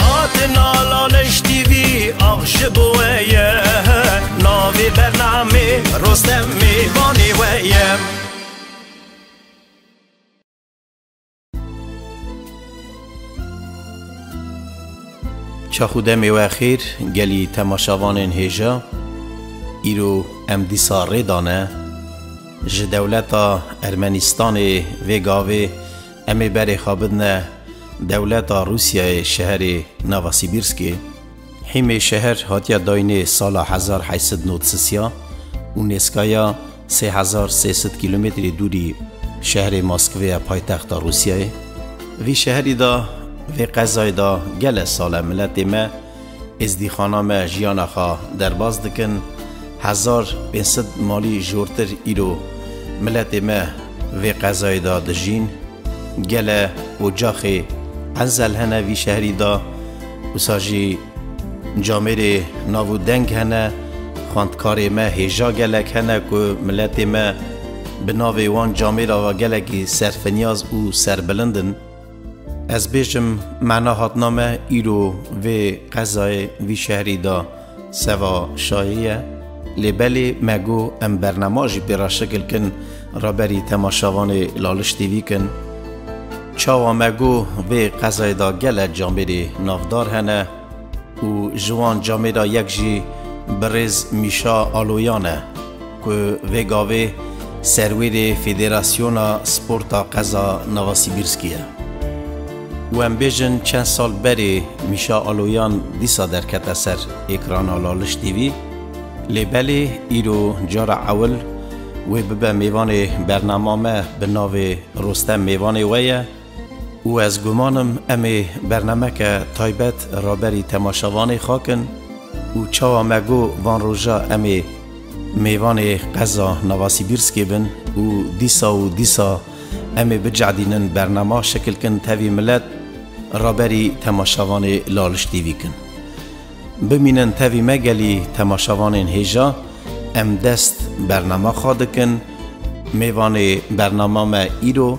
Hatina Laleş TV ax ji bo we ye Navê bernamê Rostem mêvanê we ye Çax û demê we xêr gelî temaşavanên hêja îro em dîsa rê dane ji dewleta Ermenîstanê vê gavê Em ê berê xwe bidne dewleta Rûsyayê şeherê Novosibîrskê. Hîmê şeher hatiye dayînê sala hezar heşt sed nod sisiya û nêzkaya sê hezar sê sed kîlometrê dûrî şeherê Moskvê ye paytexta Rûsyayê. Vî şeherî de, vê qezayê de gele sal e miletê me, Êzdîxana me jiyana xwe derbas dikin, hezar pênc sed malî jortir îro miletê me vê qezayê de dijîn. Gele ocaxê enzel hene vî şehrî de, wisa jî camêrê nav û deng hene. Xwendkarê me hêja gelek hene ku miletê me bi navê wan camêra ve gelekî serfinyaz û serbilind in. Ez bêjim mana hatina me îro vê qezayê vî şehrî de seva şayê ye lê belê me got em bernema jî pê re şikil kin raberî temaşavanê Laliş TV kin. Çawa me got vê qezayê de gelek camêrê navdar hene. Û ji wan camê de yek jî birêz Mîşa Aloyan e ku vê gavê serwêrê Federasyona Sporta Qeza Novosibirskî ye. Û em bêjin çend sal berê Mîşa Aloyan dîsa derkete ser êkrana Laliş TV, lê belê îro cara ewil wê bibe mêvanê bernama me bi navê Rostem mêvanê we ye, Û ez guman im em ê bernameke taybet raberî temaşevanê xakin û çawa me got van roja em ê mêvanê qeza Novasibîrskê bin û dîsa û dîsa em ê bicehdînin bernama şekil kin tevî milet raberî temaşevanê laliş tîvî kin. Bimînin tevî me gelî temaşevanên hêja em dest bernama xwe dikin mêvanê bernama me îro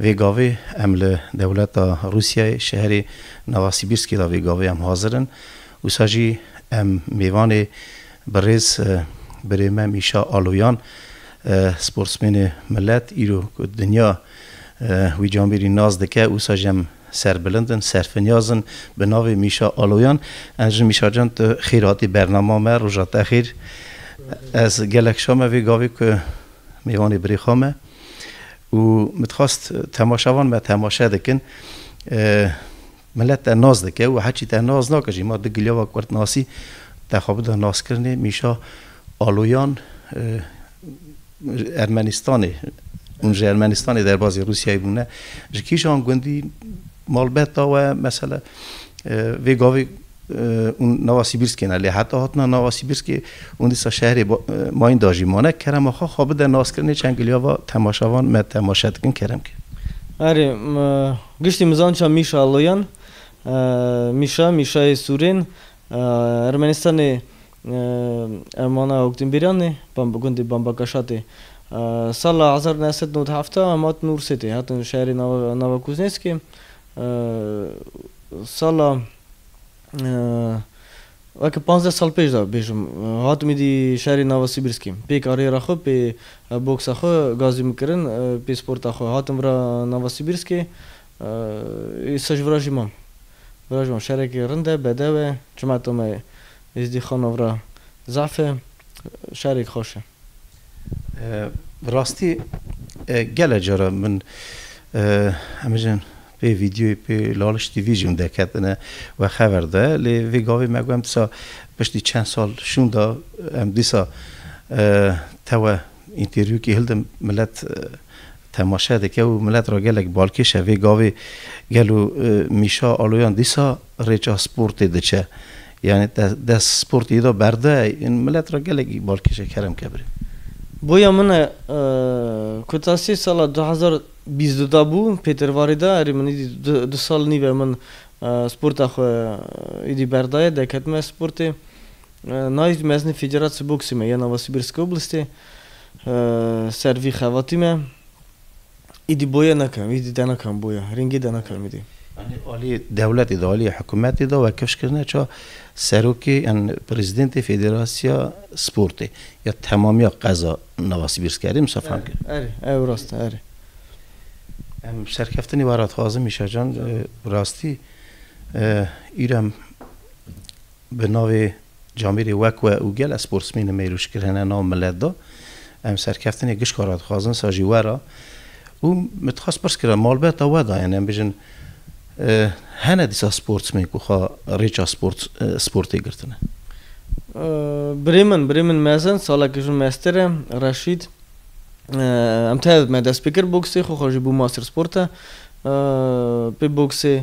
Vê gavê em li dewleta Rûsyayê şeherê Novasibîrskê de vê gavê em hazir in. Wisa jî em mêvanê birêz birê me Mîşa Aloyan sportsmênê milet îro ku dinya wî camêrî nas dike wisa jî em serbilind in, serfinyaz in bi navê Mîşa Aloyan. Enjin Mîşa can tu xêr hatî bernama me roja te xêr. Ez gelek şame vê gavê ku mêvanê birê xwe me. Û min dixwast temaşavan me temaşe dikin. Milet te nas dike û heçî te nas nake jî ma di gilava kurtnasî te xwe bida naskirinê mîşa aloyan Ermenistanê hûn ji Ermenistanê derbazê Rûsyayê bûne ji kîjan gundî malbeta we mesela Vê gavê hûn nava Sîbîrskê ne lê heta hatina nava Sîbîrskê hûn dîsa şehrê Mayînda jî mane. Kerema xwe xwe bide naskirinê çend giliya va temaşevan me temaşe dikin kerem ke. Erê, giştî mizanca Mîşa Loyan, Mîşa, Mîşayê Sûrên, Ermenistanê ev manaya Hokdînbîran ê, gundê Bambakaşat ê. Sala hezar new sed nod û heft hemat nû Rûsê tê hatin şehrê nava Kuznêskê. Sala weke panzdeh sal pêş de bêjim hatim êdî şerê nava Sibirskê. Pê kariyera xwe, pê boksa xwe gazî min kirin, pê sporta xwe hatim vira nava Sibirskê. Îsa ji vira jî mam. Vira jî mam. Şerekê rind e, bedew e. Çima tome Êzdîxana vira zehf e. Şerek xweş e. Bi rastî gele caran min hemijin pê vîdyoyê pê Laliş TV jî min derketine wexever de lê vê gavê me got em dîsa piştî çend sal şûnda em dîsa tewe întêrvîyokê hilde milet temaşe dike û milet re gelek balkêş e vê gavê gelo mîşa aloyan dîsa Rêça sportê diçe. Yanî te dest sportê yê de berde yên milet re gelekî bal kêşe kerem ke birê. Boya min e ku ta sê sala du hezar û bîst du de bû pêtervarî de erê min îdî du sal nîv e min sporta xwe îdî berdaye deketime sportê nayî mezinê fêceratsi boksê me ya nava Sibirskobulstê ser vî xevatî me. Îdî boye nakim, îdî de nakim boye, rengê de nakim îdî. Yanî alî dewletê de, alî hikûmetê de wekifş kirine ça serokê yan prezîdentê Federasîya Sportê ya temamîya qeza nava Sibîrskerdê Mistefan kir. Erê, ew rast e, erê. Em serkeftinê were dixwazin Mîşa can, rastî îro em. Bi navê Camîrê Wek we û gelek sportsmênê mêrûş kirine nav milet de. Em serkeftinê gişka re dixwazin, sa jî were. Û min dixwest pirs kira malbata we de yani em bijin hene dîsa sportsmên ku xwe rêça sport sportê girtine? Birê min, birê min mezin, salekî jin mester e, Reşîd. Em tev me dest pê kir boksê, xwe xwe jî bû master sporta pê boksê.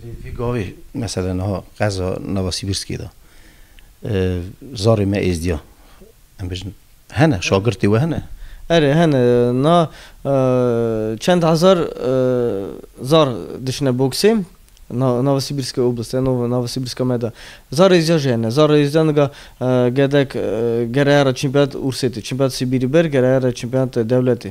Lê vî gavê mesela niha qeza nava Sîbirskê de zarê me êzdiya em bijin hene şagirtê we hene? Erê hene niha çend hezar zar diçine boksê nava Sîbirskê Oblast e nava nava Sîbirska me de zar êzdiya jî hene. Zar êzdiya nika gedek gereyara çîmpeyat Ursêtê çîmpeyat Sîbîrî ber gereyara çîmpeyat dewletê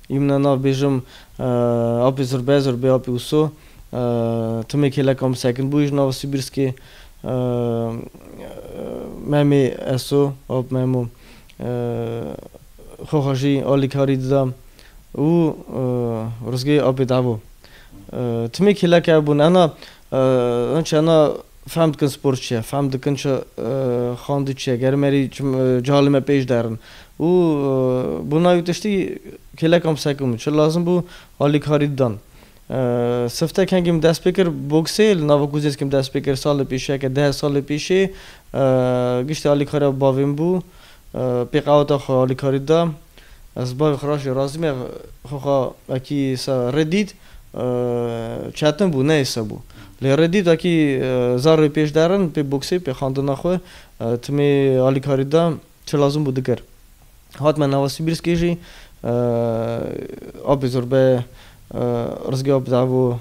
Yumna nav bêjim Apê Zurbez, Urbê Apê Uso, timê kêleka min sekin bû ji nava Sibirskê, Memê Eso, Ap Memo, xwe xwe jî alîkarî dida û rizgê Apê Devo. Timê kêleke ev bûn. Ena Hûn çanda fehm dikin spor çi ye, fehm dikin çi xwendin çi ye, gerim erî cihal li me pêş der in û bo navê wî tiştî kêlekan bi ser kir bûn. Çi lazim bû alîkarî didan. Sifte kengî min dest pê kir boksê li nava Kuzêskê min dest pê kir salê pêşiyeke deh salê pêşê. Giştî alîkariya bi bavê min bû. Pê qeweta xwe alîkarî dida. Ez bi bavê xwe re jî razî me. Xwe xwe wekî rê dît. Çetin bû, neyse bû. Lê rê dît akî zarê pêş der in, pê boksê, pê xandina xwe, timê alîkarî de çi lazim bû dikir. Hat me nava Sibîrskê jî apê zurbe Rizgê ap davo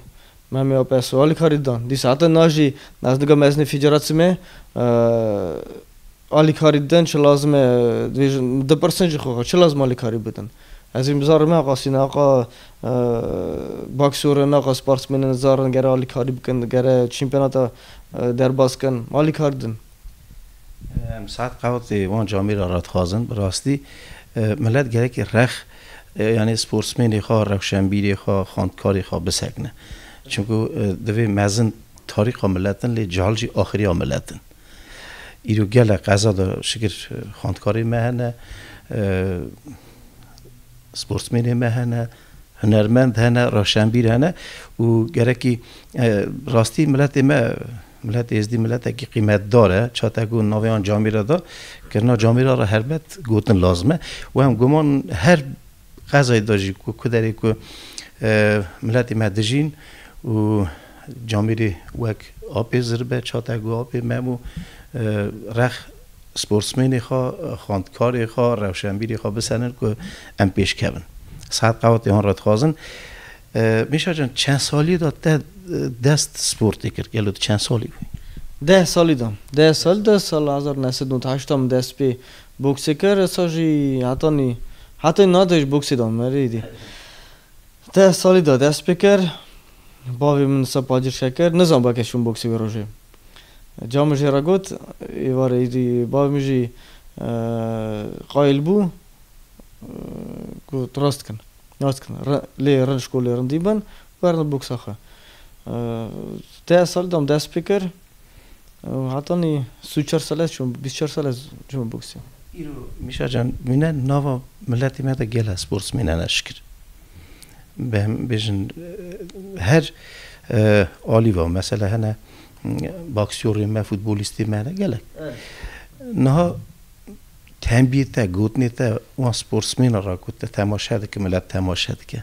Memê ap eso alîkarî dan. Dîsa heta niha jî ez nika mezinê fîcera çime Alîkarî din çi lazim e? Dibêjin, min dipirsin ji xwe xwe, çi lazim alîkarî bidin? Ez ê bizarim me axa Sîna, axa Baksorin, axa sparsmênên zarin gere alîkarî bikin, gere çîmpenata derbas kin, alîkarî din. Em saet qewtê wan camê re re dixwazin. Bi rastî milet gerekî rex yanî sporsmênê xwe, rewşenbîrê xwe, xwendkarê xwe bisekine. Çimku divê mezin tarîxa milet in lê cehil jî axiriya milet in. Îro gelek qeza de şikir xwendkarê me hene, sportmênê me hene, hunermend hene, rewşenbîr hene û gerekî rastî miletê me Milletê Êzdî miletekî qîmetdar e. Çatek û navê wan camêre de kirina camêra re helbet gotin lazim e û em guman her Xezayê de jî ku derê ku miletê me dijîn û camêrê wek apê zirbe, çatek û apê mem û rex sportsmênê xwe, xwendkarê xwe, rewşenbîrê xwe bisenin ku em pêş kevin. Sead Qewatê hûn re dixwazin. Mêşa can çend salî de te dest sportê kir? Gelo tu çend salî bûyî? Deh salî de. Deh salî de sala hezar û neh sed û newt û heşt de min dest pê Boxêker esa jî heta nî hetê na de ji boxê de me rê dî. Deh salî de dest pê kir. Bavê min ser pacir şer kir. Nizan belkê şûn boxê wê rojê. Ca min jê re got êvarê îdî bavê min jî qayil bû ku tu rast dikin. Rast dikin. Lê rind ji ku lê rindî bin, werne boxa xwe. Deh salî de min dest pê kir. Hatanî si û çar sale çûm, bîst çar sale çûm boksî. Îro Mîşa can mîne nava miletê me de gela sportsmên hene şikir. Bi em bêjin her alî va mesela hene baksyorên me, futbolîstê me hene gelek. Niha tembiyê te, gotinê te wan sportsmênan ra ku te temaşe dike, milet temaşe dike.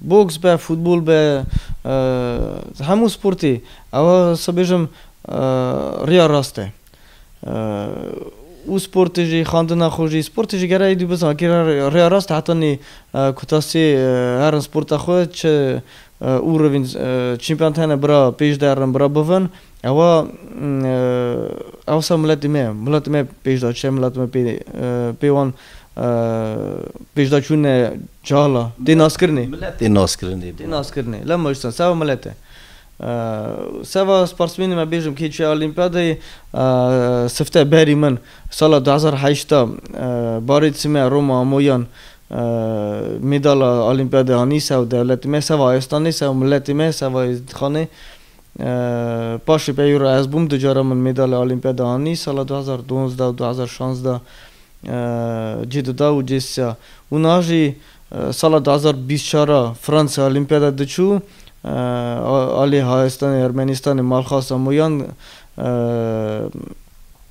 Boks be, futbol be, hemû sportê ew se bêjim riya rast e. Û sportê jî, xandina xwe jî, sportê jî gere êdî bizan kî re riya rast e heta nê kuta sê herin sporta xwe çi û rivîn çîmpiyont hene bira pêş derin bira bivin. Ewa ew ser miletê me ye. Miletê me pêş da çi? Miletê me pê pê wan pêş da çûn e çala. Tê naskirinê. Milet tê naskirinê. Tê naskirinê. Lem me jî seva milet e. Seva sparsmênê me bêjim kê çûye olîmpiyadayê sifte berî min sala du hezar û heşt de barê di sime Roma Amoyan mêdala olîmpiyadê anî sew dewletê me, seva ayestanê, sew miletê me, seva êzdîtxanê. Paşê peyû re ez bûm du cara min mêdalya olîmpiyada anî, sala du hezar û duwazdeh û du hezar û şazdeh cî dida û cî sîya. Û niha jî sala du hezar û bîst û çar a Fransa olîmpiyada diçû alê Hayestanê Ermenîstanê malxasa Moyan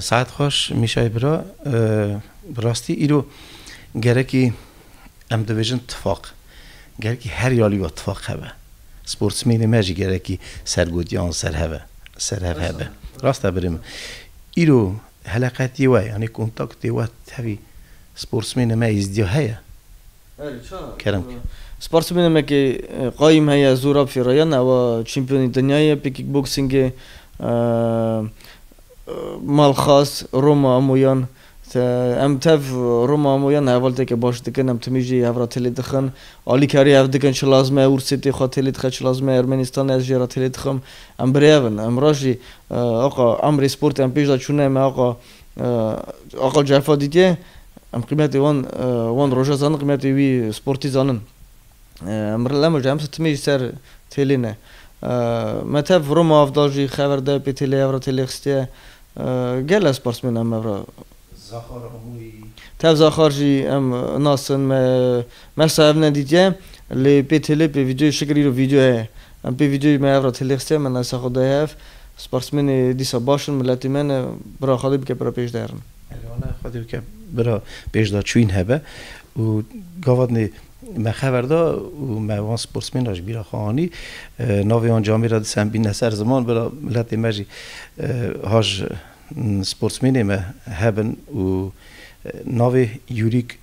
Saet xweş Mîşay bira. Bi rastî îro gerekî em dibêjin tifaq. Gerekî her yalî wa tifaq hebe. Sportsmênê me jî gerekî sergotiyan ser hebe, serhev hebe. Rast e birê min. Îro heleqetiyê we yanî kontaktê we tevî sportsmênê me Êzdîya heye. Kerem. Sportsmênê me ke qayîm heye Zûrab Fêrayan ew a çîmpîyonê dinyayê ye pê kîkboksîngê Malxas Roma Amoyan te em tev Roma Amoyan hevalteke baş dikin em timî jî hev ra têlê dixin alîkarî hev dikin çi lazim e ûrsêtê xwe têlê dixe çi lazim e Ermenîstanê ez jê ra têlê dixim em birêv in. Em ra jî axa emrê sportê em pêş de çûne me axa. Aqil Cefa dîtîye em qîmetê wan wan roja zanin qîmetê wî sportî zanin. Mirlem ji em sitimê ji ser têlê ne. Me tev Roma av da jî xever de pê têlê hev re têlê xistiye. Gele sparsmên em hev re. Tev Zaxar jî em nasin me Mersa ev ne dîtiye lê pê têlê pê vîdeoyê şikir îro vîdeo heye. Em pê vîdeoyê me ev re têlê xistiye me naysa xwe daye hev. Sportsmenê dîsa baş in miletê me ne bira xwedê bike bira pêş de herin. Erê wana xwedê bike bira pêş de çûyîn hebe û gavatnê me xever da û me wan sportsmen re ji bîra xwe anî. Navê wan camê re disa em bîne ser ziman bira miletê me jî haj sportsmenê me hebin û navê Yurîk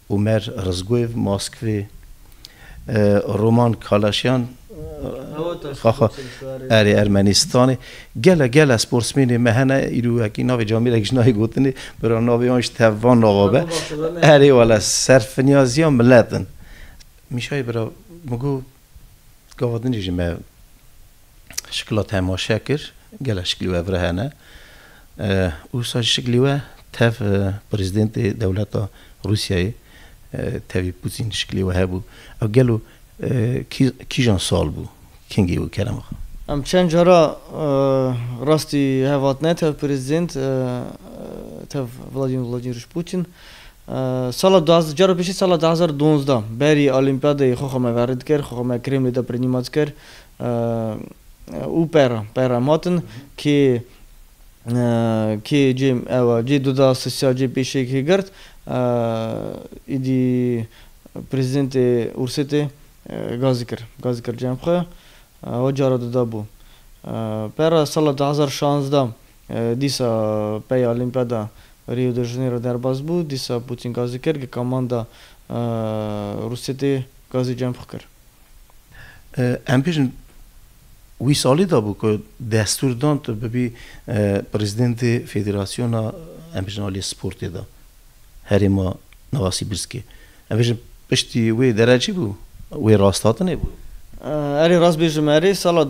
Umer Rızguev, Moskvê, Roman Kalaşyan, Xaxa, erê, Ermenîstanê, Gele gele sportsmênê me hene, îro wekî navê camêrek ji nayê gotinê, bira navê wan ji tev van nava be. Erê wele, serfinyazîya milet in. Mîşayê bira min got. Gava din jî me şikla temaşe kir, gelek şiklî we vire hene. Usa ji şiklî we tev prezidentê dewleta Rûsyayê tevî Pûtîn şiklî we hebû. Ew gelo kîjan sal bû? Kengî bû Kerem axa? Em çend cara rastî hev hatine tev prezident, tev Vladîmîr Vladîmîrîç Pûtîn. Sala du hezar cara pêşî sala du hezar û duwazdeh berî Olîmpiyadeyê xwe xwe me verê dikir, xwe xwe me Kremlê de pirnîma dikir û pera pera em hatin kê kê cê ewa cê du da sisiya cê pêşê kê girt îdî Prezîdentê Ûrsêtê gazî kir gazî kir cem xwe ewa cara du da bû. Pera sala du hezar û şazdeh Dîsa peya Olîmpiyada Rio de Janeiro derbas bû, dîsa Pûtîn gazî kir, gika manda Rûsê tê gazî cemxwe kir. Em bêjin wî salî de bû ku destûr dan tu bibî prezidentê federasyona em bêjin aliyê sportê de herêma Nowasîbirskê. Em bêjin piştî wê derecî bû, wê rasthatinê bû. Erê rast bêjim erê sala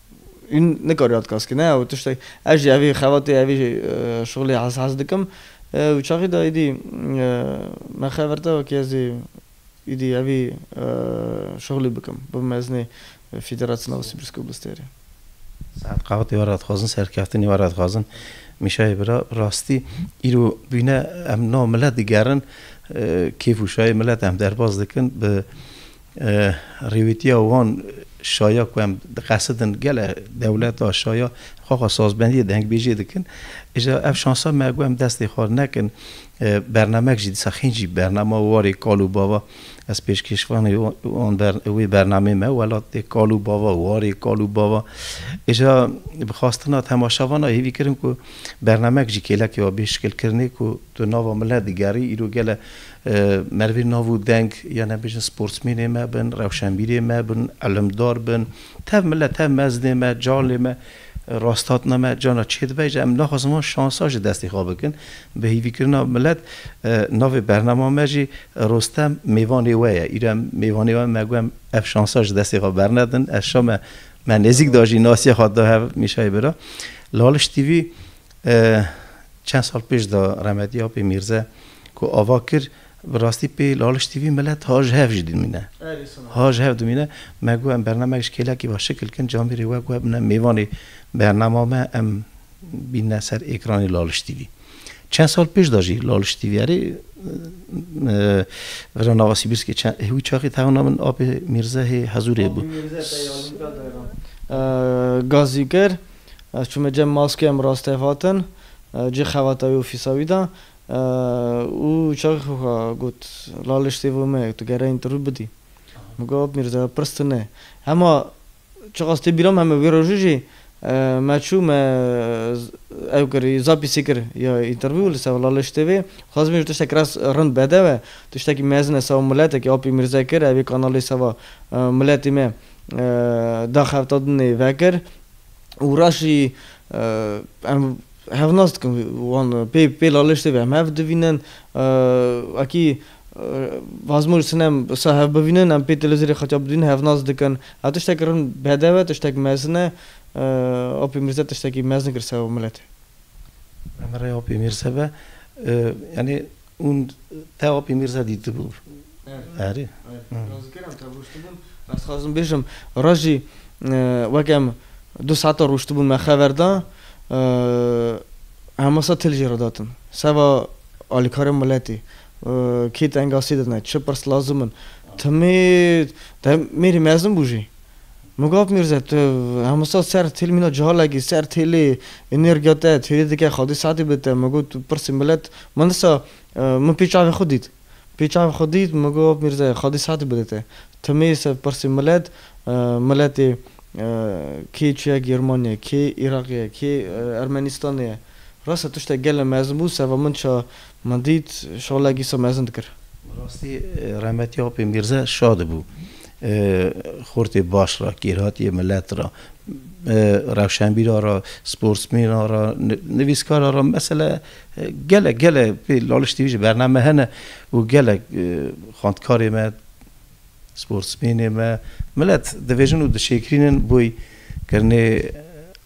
Hûn nikare ewt kas kine ew tiştek ez jî evî xebatê evî şixulê hes hes dikim û çaxî de îdî me xe vir te wekî ez ê îdî evî şixulî bikim bim mezinê Fîderasyona Wesî Brîskobûlistêrê. Saet qawetê were dixwazin serkeftinê were dixwazin Mîşayê bira rastî îro bîne em no milet digerin kêf û şayê milet em derbas dikin bi Rêwîtiya wan şaya ku em diqesidin gele dewleta şaya xwe xwe sazbendiyê dengbêjê dikin. Îja ev şansa me ku em destê xwe nekin bernamek jî dîsa xîn jî bernama warê kal û bava ez pêşkêşvanê wan wê bernamê me welatê kal û bava warê kal û bava îja bi xwastina temaşavana hêvî kirin ku bernamek jî kêlekê wa bê şikilkirinê ku Tu nava min le digerî. Îro gele merivên nav û deng yan em bêjin sportsmênê me bin, rewşenbîrê me bin, ilimdar bin. Tev min le, tev mezdê me, calê me, rasthatna me carna çê dibe jî em naxwazin van şansa ji destê xwe bikin. Bi hêvîkirina milet navê bernama me jî Rostem mêvanê we ye. Îro em mêvanê we me got em ev şansa ji destê xwe bernedin. Erşa me me nêzîk da jî nasiya xwe da hev Mîşayê bira. Laliş TV Çend sal pêş de remedî Apê Mîrze ku ava kir bi rastî pê laliştî vî milet ha ji hev jî dimîne. Ha ji hev dimîne. Me got em bernamek ji kêlekî ve şikil kin camêrê we got bine mêvanê bernama me em bînine ser êkranê laliştî vî. Çend sal pêş de jî laliştî vî erê vira nava Sîbirskê çend wî çaxê tewna min Apê Mîrze hê hezûrê bû. Gazî kir. Ez çûme cem maskeya min rastî hev hatin cî xebata wî û fîsa wî de û çaxê xwe xwe got, Laliş sêvo me ye, tu gereyên tu rû bidî. Min got, Mîrza pirs tu ne. Hema çiqas tê bîra min heme wê rojê jî me çû me ew kir zapîsê kir ya întervîw li ser Laliş TV. Dixwazim bêjim tiştek rast rind bedew e, tiştekî mezin e seba miletekî Apê Mîrzayê kir, ev ê kanalê seba miletê me daxebta din ê vekir. û reş jî em hevnas dikin wan pê pê laliş tê em hev divînin wekî Vazim û Sinem wisa hev bivînin em pê televîzyonê qetiya bidivînin hevnas dikin. Ev tiştek rind bedew e tiştek mezin e Apê Mîrze tiştekî mezin kir ser miletê. Em re Apê Mîrze be yanî Hûn te Apî Mîrza dîtibûn? Erê. Ez dikêrem te rûştibûn. Ez dixwazim bêjim ra jî wek em du saetan rûştibûn me xever da hema sed til jê re datin. Seva alîkarên miletê, kî tengasî didin, çi pirs lazim in. Timî te mêrî mezin bû jî Mugab Mîrze, tu hemû sal ser têl mîna cihalekî, ser têlê înêrgiya te, têlê dike xwedî saetê bi te. Min got, pirsî milet, min disa, min pê çavê xwe dît. Pê çavê xwe dît, Mugab Mîrze, xwedî saetê bide te. Ti mêyse pirsî milet, miletê kê çûye Germaniye, kê Îraqê ye, kê Ermenîstanê ye. Rase tiştek gelê mezin bû, seva min ça Min dît şola gîso mezin dikir. Bi rastî rehmetî Apê Mîrze şa dibû xortê baş ra, kêrhatîyê milet ra, rewşenbîra ra, sportsmêna ra, nivîskara ra mesele gelek gelek pê Laliş TV jî bername hene û gelek xwendkarê me, sportsmênê me milet divêjin û dişêkirînin boy kirinê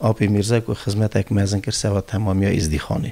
Apê Mîrze ku xizmetek mezin kir sewa temamîya Îzdîxanê.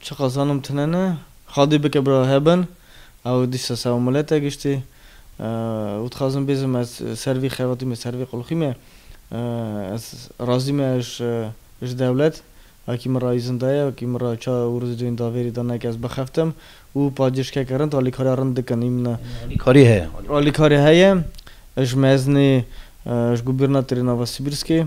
Çiqas zanim tune ne. Xadî bike bira hebin. Ew dîsa sağ û milet e giştî. Û dixwazim bêzim ez ser vî xebatî me, ser vî qulxî me. Ez razî me ji dewlet. Wekî min ra îzin daye, wekî min ra çar û riz duyên davêrî da ne ke ez bixeftim. Û pacêşkeke rind, alîkariya rind dikin. Hîn min e. Alîkarî heye? Alîkarî heye. Ji Meznê ji bo bîr natirî nava Sibîrskê.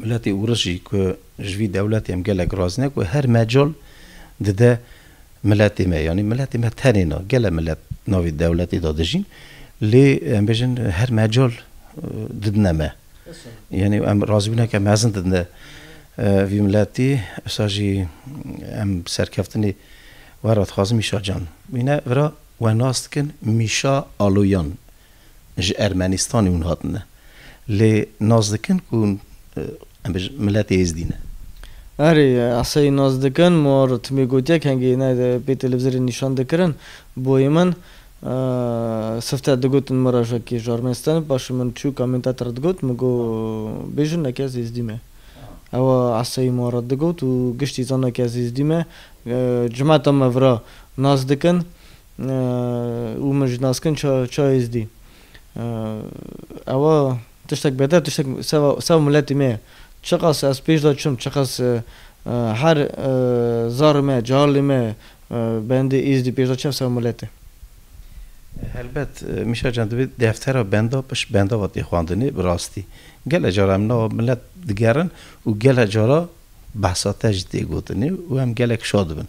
Miletê Ûriş jî ku ji vî dewletê em gelek razî ne ku her mecol dide miletê me yanî miletê me tenê na gele milet navê dewletê de dijîn lê em bêjin her mecol didine me yanî em razîbûneke mezin didine vî miletî esa jî em serkeftinê were dixwazin Mîşa Can mîne vira we nas dikin Mîşa Aloyan ji Ermenistanê hûn hatine. Lê nas dikin ku hûn em bêjin miletê êzdî ne. Erê, esayî nas dikin. Ma Rûtmê gotiye kengê ne pê televizorê nîşan dikirin. Boyê min sifte digotin min re ji wekî ji Ermenistanê bi paşê min çû Kamentat re digot min got bêjin ne ke ez êzdî me. Ewa esayî ma re digot û giştî zana ke ez êzdî me. Cimeta me vira nas dikin. Û min ji naskin çayê zdî. Ewa tiştek beter tiştek seva miletî me ye. Çiqas ez pêş de çûm, çiqas her zarê me, carlê me bendê Êzdî pêş de çû ev seva milet e. Helbet Mişa can divê deftera benda pişt benda ve tê xwendinê bi rastî. Gelek cara em nava milet digerin û gelek cara behsa te jî tê gotinê û em gelek şa dibin.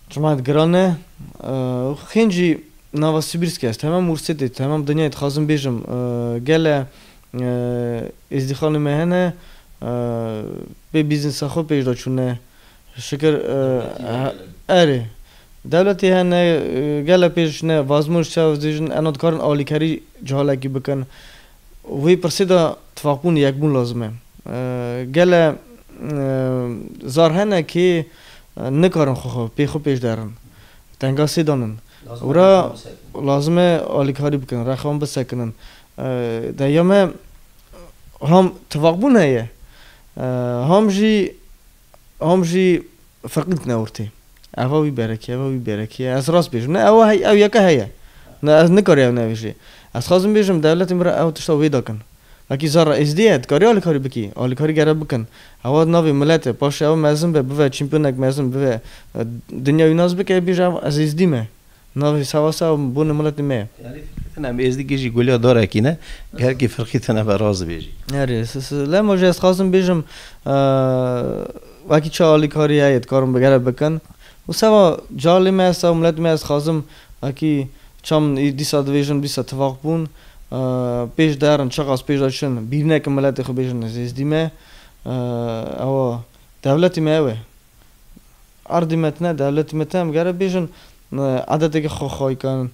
Çima ez giran ne? Xênc jî nava Sibîrskê ye. Ez temam Wursetê, temam dinyayê dixwazim bêjim. Gele êzdîxanê me hene bê bîznisa xwe pêş de çûne. Şikir erê. Dewletê hene, gele pêş ne. Vazmoj çav dibêjin ena dikarin alîkarî ji halekî bikin. Wê pirsê de tifaqbûn û yekbûn lazim e. Gele zar hene kê nikarin xwe xwe pê xwe pêş derin, tenga sê dan in û re lazim e alîkarî bikin, rexa wan bisekinin. Dê ya me ham tifaqbûn heye, ham jî Hom jî feqî dikine ortê. Eva wî berekê, eva wî berekê ye. Ez rast bêjim. Ne ewa hey, ew yeke heye. Ne ez nikarî ew nebêjê. Ez xwazim bêjim dewletê min re ew tişta wê dikin. Wekî zerra êzdî ye, dikarî alîkarî bikî. Alîkarî gere bikin. Ewa di navê milet e. Paşê ew mezin be, bive çîmpyonek mezin, bive dinya wî nas bike, bêje ev ez êzdî me. Navê Sewasa û bûnê miletê me ye. Yanî firqîtina me êzdî kê jî goliya darekî ne, her kî firqîtina me rast dibêjî. Erê, lema jî ez dixwazim bêjim wekî çi alîkarî heye dikarin bi gere bikin û seva calê me esta û miletê me ez dixwazim wekî çawa min dîsa dibêjin dîsa tifaq bûn pêş de herin çiqas pêş de çin bîrnekin miletê xwe bêjin ez êzdî me ew a dewletê me ew e. Erdî metine de li timite em gere bêjin edetekî xwe xay kin,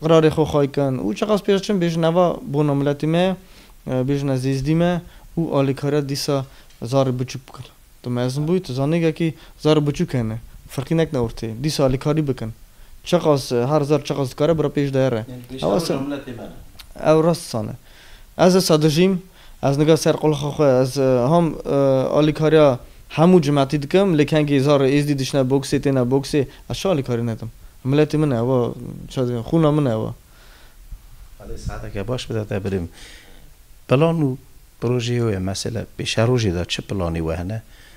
qirarê xwe xay kin û çiqas pêş çin bêjin eva bona miletê me ye, bêjin ez êzdî me û alîkariya dîsa zarê biçûk bikin. Tu mezin bûyî, tu zanîngekî zarê biçûk hene, firqî nekine ortê. Dîsa alîkarî bikin. Çiqas her zar çiqas dikare bira pêş de here. Ew rast dîsa ne. Ez esa dijîm, Ez nika ser qulxa xwe ez ham alîkariya hemû cimetî dikim lê kengî zarê êzdî dişine boksê têne boksê ez çi alîkarî nedim miletî min e ew çi dibêjim xûna min e ew. Elê saeteke baş bide te birîm. Plan û projeyê wê mesela pêşerojê de çi planê we hene?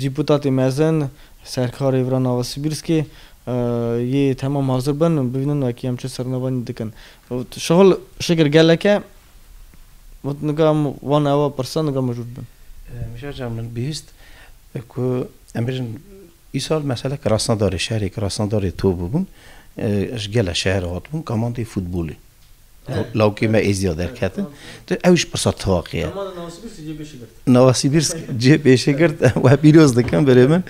Dîputatê mezin Serkarê vira nava Sibîrskê yê temam hazir bin û bivînin wekî em çi sernevanî dikin. Got, Şahol şekir gelek e. Got, Nika em wan ew a pirsa nika mijûl bin. Mijar can min bihîst ku em bêjin îsal mesela kirasnadarê şerê kirasnadarê top bûbûn ji gela şeher hatibûn kamandê futbolê. Lawikê me Êzî ya derketin. Tu ew jî pirsa tevaqî ye. Nowasîbîrsk cê pêşê girt we pîroz dikin birê min.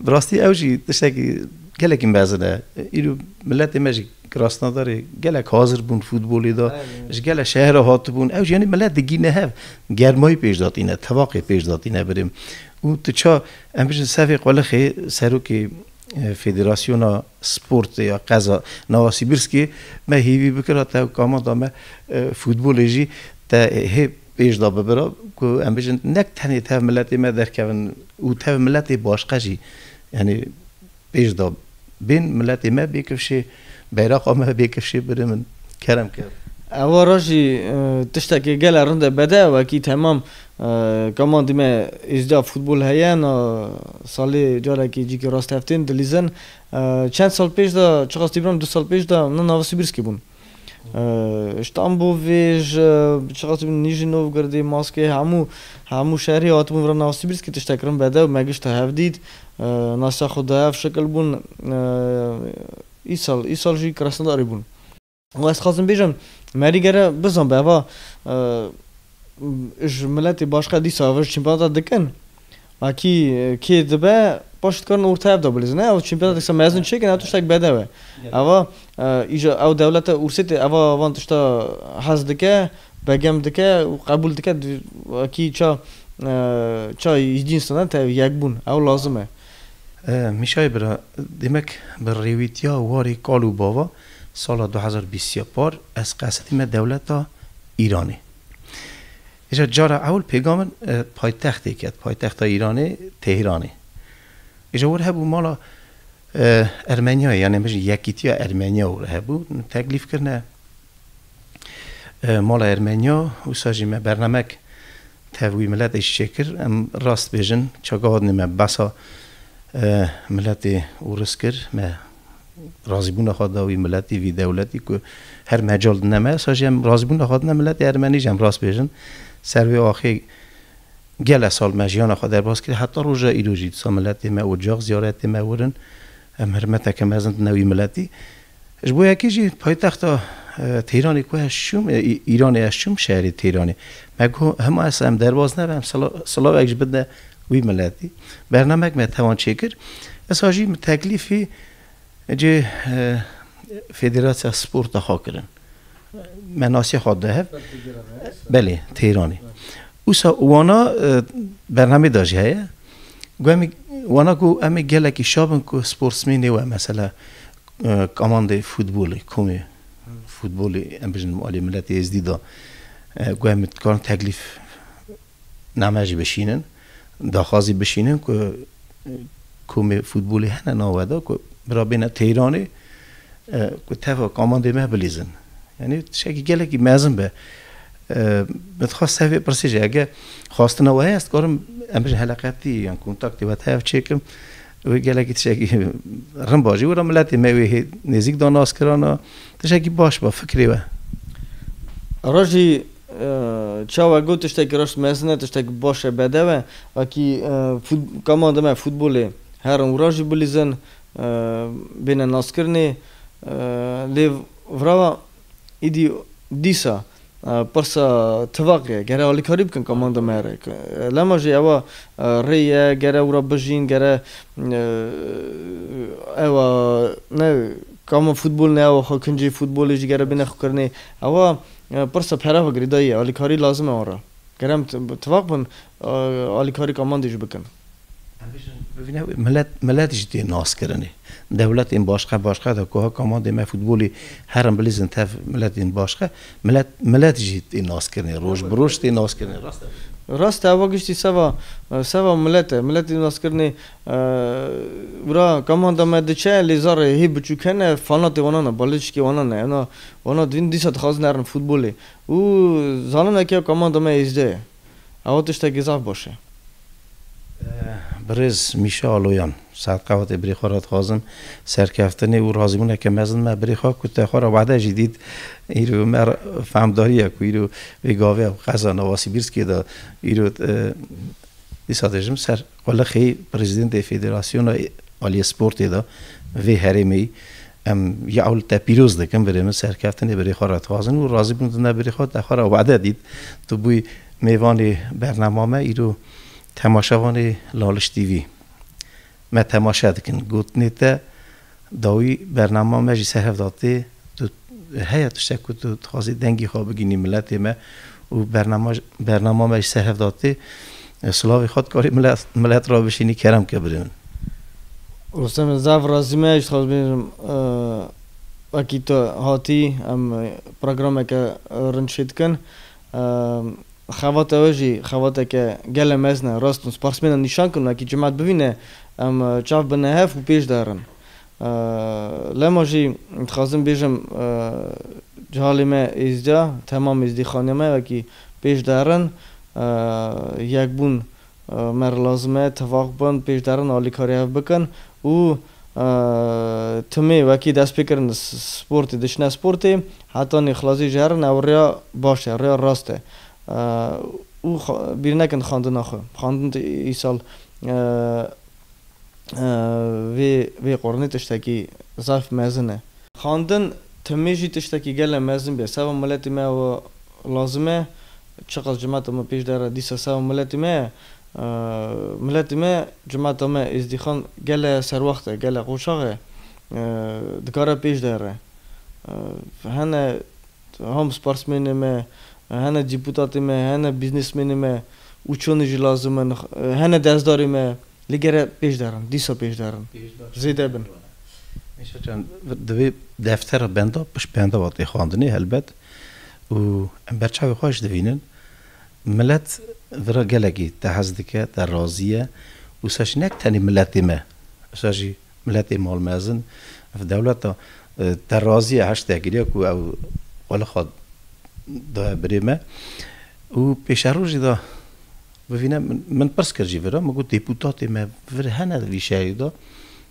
Bi rastî ew jî tiştekî gelekî mezin e. Îro miletê me jî Krasnodarê gelek hazir bûn futbolê de. Ji gelek şeher re hatibûn. Ew jî yanî milet digihîne hev. Germayî pêş datîne, tevaqê pêş datîne birê min. Û tu ça em bijîn Sefê Qulixê serokê Federasyona Sportê ya qeza Nowasibirskê me hêvî bikira te kamata me futbolê jî te hê pêş da bibira ku em bijin nek tenê tev miletê me derkevin û tev miletê başqe jî yanî pêş da bên miletê me bê kifşê beyraqa me bê kifşê birê min kerem kir. Ewara jî tiştekî gele rind e bede wekî temam Kaman dîme îzdiya futbol heye na salê carekî cîkî rasteftên dilîzin çend sal pêş de çiqas dîbînim du sal pêş de na nava Sibirskî bûn ji Tambovê ji çiqas dîbînim Nîjî Novgordê Maskê hemû hemû şerî hatibûn vir nava Sibirskî tiştek kirin bedew me gişt hev dît na ser xwe dayev şikil bûn îsal îsal jî Krasnodarê bûn. Û ez xwazim bêjim merî gere bizan be va ji miletê başka dîsa ev ji çîmpelata dikin a kî kê dibe paşê dikarin orta ev de bilîzin ne ew çîmpelata diksa mezin çêkin ew tiştek bedew e eva îja ew dewlete ûrsê tê eva van tişta hez dike begem dike û qebûl dike kî ça ça îdîn sina te yekbûn ew lazim e. Mîşayê bira demek bi rêwîtiya warê kal û bava Sala du hezar û bîst ya par ez qesetîme dewleta Îranê. Îja cara ewil pêga min paytextê ket, paytexta Îranê Tehîranê. Îja wir hebû mala Ermenyayê yanê bijî Yekîtiya Ermenya wir hebû. Teklîf kirine mala Ermenya. Wisa jî me bernamek tev wî miletê jî çêkir. Em rast bêjin çaga hatine me behsa miletê ûris kir. Me Razîbûna xwe da wî miletî, vî dewletî ku her mecal di ne me, esa jî em razîbûna xwe dine miletê ermenî jî em rast bêjin. Ser vê axê gele sal me jiyana xwe derbas kiriye heta roja îro jî disa miletê me ocax ziyaretê me wir in. Em hirmeteke mezin dine wî miletî. Ji bo yekê jî paytexta Teyranê ku ez çûm, Îranê ez çûm şerê Teyranê me got hima esa em derbas nebe em silavek ji bidne Wî miletî bernamek me tewan çêkir. Esa jî min teklîfî cê Federasya Sporta xwe kirin. Me nasiya xwe da hev. Belê, Teyranê. Usa wana bernamê da jî heye. Ku em wana ku em ê gelekî şabin ku sportsmênê we mesela kamandê futbolê, komê futbolê em bijin Aliyê Miletê Êzdî da ku em dikarin teklîf Name jî bişînin, daxwazî bişînin ku komê futbolê hene nawe de ku bira bêne Teyranê ku tevok amandê me bilîzin. Yanî tiştekî gelekî mezin be. Min dixwest ser vê pirsê jî ege xwastina we heye ez dikarim em bijî heleqetî yan kontaktê we tevçêkim. Wê gelekî tiştekî rin ba jî wira miletê me wê hê nêzîk da naskirana tiştekî baş ba fikrê we. Rojî çawa got tiştekî reşt mezin e tiştekî baş e bedew e wekî kama dime futbolê herin wira jî bilîzin bêne naskirinê lê vira Îdî dîsa pirsa tivaq ye, gere alîkarî bikin ka manda me re ke lema jî ewa rê ye, gere wira bijîn, gere ewa ne ka min futbol ne ewa xwe kincê futbolê jî gere bêne xwekirinê. Ewa pirsa pere ve girêdayî ye, alîkarî lazim e wan re. Gere em tivaq bin alîkarî ka mandê jî bikin. Em bijîn. Bibîne wê milet milet jî tê naskirinê. Dewletên başka başka de ku ha kamandê me futbolê herin bilîzin tev miletên başka milet milet jî tê naskirinê roj bi roj tê naskirinê rast e. Rast e ewa giştî seva seva milet e. Milet tê naskirinê wira kamanda me diçe lê zarê hê biçûk hene fanatê wanan e balêçikê wanan e. Ena wana divînin dîsa dixwazin herin futbolê û zanin eke kamanda me êzdê ye. Ew tiştekî zaf boş e. Birêz Mîşa Aloyan, Saet Qewatê birê xwe re dixwazim serkeftinê û razîbûneke mezin me birê xwe ku te xwe re wahde jî dît îro bi me re fehmdariya ku îro vê gaviya qeza Navasîbîrskê de îro dîsa dijim ser Qulixê Prezîdentê Federasyona Aliyê Sportê de vê herêmê Em ya ewil te pîroz dikim birê min, serkeftinê birê xwe re dixwazin û razî bûn tu ne birê xwe te xwe re wade dît. Tu bûyî mêvanê bernama me îro temaşevanê Laliş TV me temaşe dikin. Gotinê te. Dawî bernama me jî ser hev da tê. Tu heye tiştek ku tu dixwazî dengî xwe bigînî miletê me û bernama bernama me jî ser hev da tê. Silavê xwe dikarî milet milet re bişînî kerem ke birê min. Rûstem zaf rastî me jî dixwaz bînim wekî tu hatî em programeke rind çêdikin Xevata we jî xevateke gele mezin e, rast in. Sparsmênan nîşan kirin wekî cemat bivîne em çav bine hev û pêş de herin. Lema jî dixwazim bêjim Cihalê me êzîda, Temam Êzîdî xaniya me wekî pêş de herin. Yekbûn Mer lazim e tevax bin, pêşderin alîkarî hev bikin û timê wekî destpêkirin sportê diçine sportê heta nîxlasî ji herin ew rêya baş e, rêya rast e û bîr nekin xwendina xwe. Xwendin îsal vê qorinê tiştekî zayf mezin e. Xwendin timê jî tiştekî gelek mezin bî ye. Seba miletê me ew lazim e Çiqas cimata me pêş de re dîsa se û miletê me ye. Miletê me, cimata me Êzdîxan gele serwext e, gele qoçax e. Dikare pêş de re. Hene ham sparsmênê me, hene dîputatê me, hene bîznesmênê me û çoni jî lazim in, hene dezdarê me lê gere pêş de rin, dîsa pêş de rin, zêde bin. Meşa Can, divê deftera benda pişt benda vatê xwendinê helbet. Û em ber çavê xwe jî dibînin milet vir a gelekî te hez dike, te razî ye û wisa jî ne tenê miletê me, wisa jî miletê mal mezin ev dewleta te razî ye her şte kiriye ku ew xwe li xwe daye birê me. Û pêşerojî de bivîne min pirs kir jî vir a min got dêpûtatê me vir hene vî şerî de,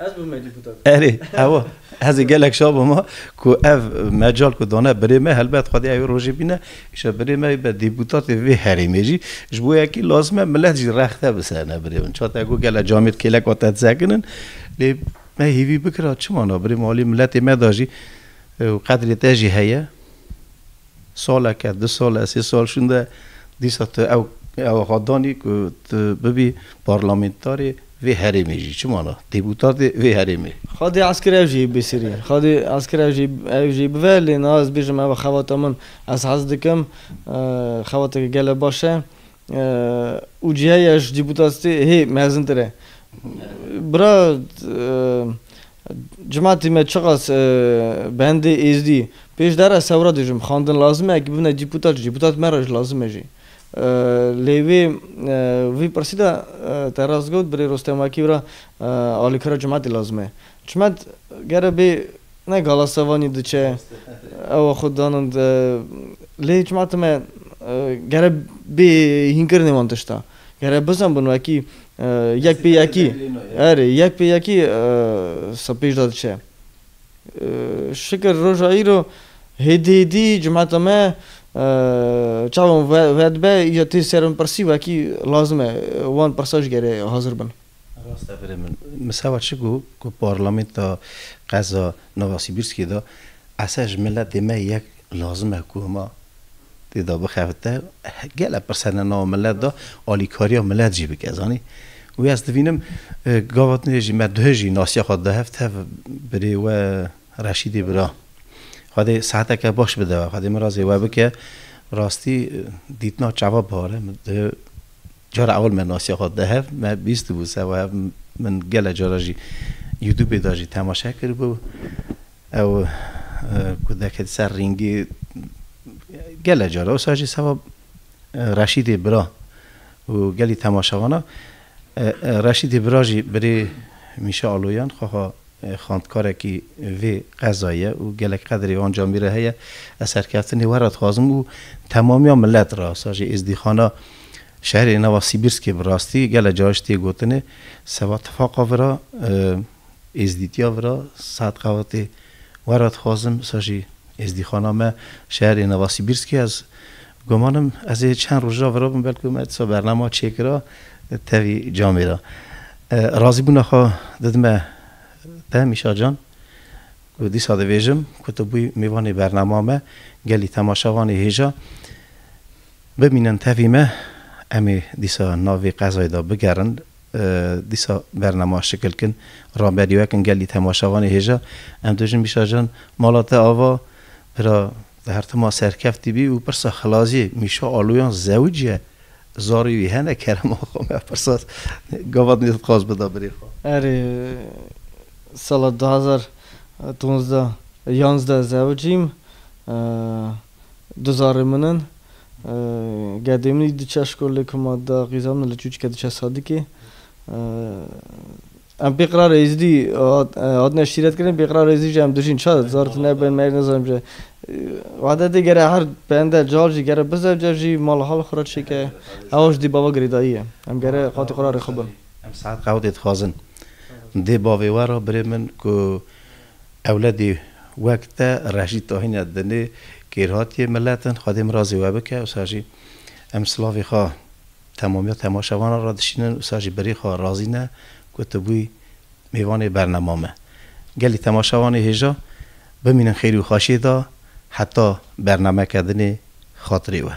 Ez bûme dîputat. Erê, ew ez ê gelek şa bûme ku ev mecal ku dane birê me helbet xwedîya wê rojê bîne îşa birê me bibe dîputatê vê herêmê jî. Ji bo yekî lazim e milet jî rexte bi ser ne birê min. Çate ku gele camê di kêlek ve te disekinin lê me hêvî bikira çima na birê min alî miletê me de jî qedrê te jî heye. Saleke, du sale, sê sal şûnde dîsa tu ew ew axa danî ku tu bibî parlamentarê vê herêmê jî. Çi mana? Dêpûtatê vê herêmê. Xwedî eskir ew jî bêsirî. Xwedî eskir ew jî ew jî bive lê niha ez bêjim ew e xebata min. Ez hez dikim xebateke gelek baş e. Û cîheya ji dîpûtasîtê hê mezintir e. Bira Cimatî me çiqas bi hendê êzdî pêşdera sewra dijim, xwendin lazim e, eke bibne dîpûtat ji dîpûtat me re ji lazim e jî. Lê wê vî pirsî de te rast got birê Rostem Akî bira alîkara Cimatî lazim e. Çimet gere bê ne gala sevanî diçe ew xwe danin lê çimeta me gere bê hînkirinê wan tişta gere bizenbin wekî yek pê yekî erê yek pê yekî sib pêş de diçe. Şikir roja îro hêdî hêdî cimeta me çawa wedibe îro tê serimpirsî wekî lazim e wan pirsa ji gere hazir bin. Rast e birê min. Misewa çi got ku Parlamenta qeza Novosibirskê de esa ji miletê me yek lazim e ku hema tê de bixebite. Gelek pirse ne nava milet de alîkariya milet jî bike zanî. Wê ez dibînim gava din jî me duh jî nasiya xwe dida hev tev birê we Reşîdê bira. Xwedê saeteke baş bide we. Xwedê mirazê we bike. Rastî dîtina çawa bihar e min duh Cara ewil me nasiya xwe dide hev, me bîstibû se û hev min gelek cara jî Youtubê de jî temaşe kiribû. Ew ku diketi ser rîngî gelek cara wisa jî seba Reşîdê bira û gelî temaşevan e. Reşîdê bira jî birê Mîşa Aloyan xweha Xwendkarekî vê qezayê ye û gelek qedrê wan camî re heye. Ez serkeftinê we re dixwazim û temamiya milet re, sa jî êzdîxana şerê nava Sîbirskê bi rastî gelek caran ji tê gotinê seba tifaqa vi ra, êzdîtiya vi ra, saet qewetê we re dixwazim, sa jî êzdîxana me şerê nava Sîbirskê ez Gumanim ez ê çend roja vira bim belku me disa bernama çêkira tevî camê ra. Razîbûna xwe didime te Mîşa can ku dîsa dibêjim ku tu bûyî mêvanê bernama me, gelî temaşevanê hêja bimînin tevî me. Em ê dîsa navê qezayê de bigerin dîsa bernama şikilkin raberî wekin gelî temaşevanê hêja. Em dibêjin Mîşa can mala te ava bira. Di hertima serkeftî bî û pirsa xilaziyê Mîşa Aloyan zewc ye. Zarî wî hene kerema xwe me pirsa gavat nê dixwaz bida birê xwe. Erê, sala du hezar û duwazdeh yazdeh zewc im. Du zarê min in. Gedê min jî diçe şkolê ku ma da qîza min li Çûçke diçe Sadikê. Em pêqirara Êzidî hatine şîretkirin, pêqirara Êzidî jî em dijîn. Çar zar tu nebe me nizanim jî. Wahdatê gere her bende cal jî gere bizewce jî mal hal xwe re çêke. Ewa ji dî bava girêdayî ye. Em gere qatî xwe re rêxibin. Em saet qewdê dixwazin. Dê bavê we re birê min ku ewledî wek te rejî tahîne dinê kêrhatiyê milet in. Xwedê mirazê we bike. Wisa jî em silavê xwe Temamiya temaşevanan re dişînin û sar jî berî xwe razî ne ku tu bûyî mêvanê bernema me. Gelê temaşevanê hêja bimînin xêrî û xweşiyê de heta bernameke din ê xatirê we.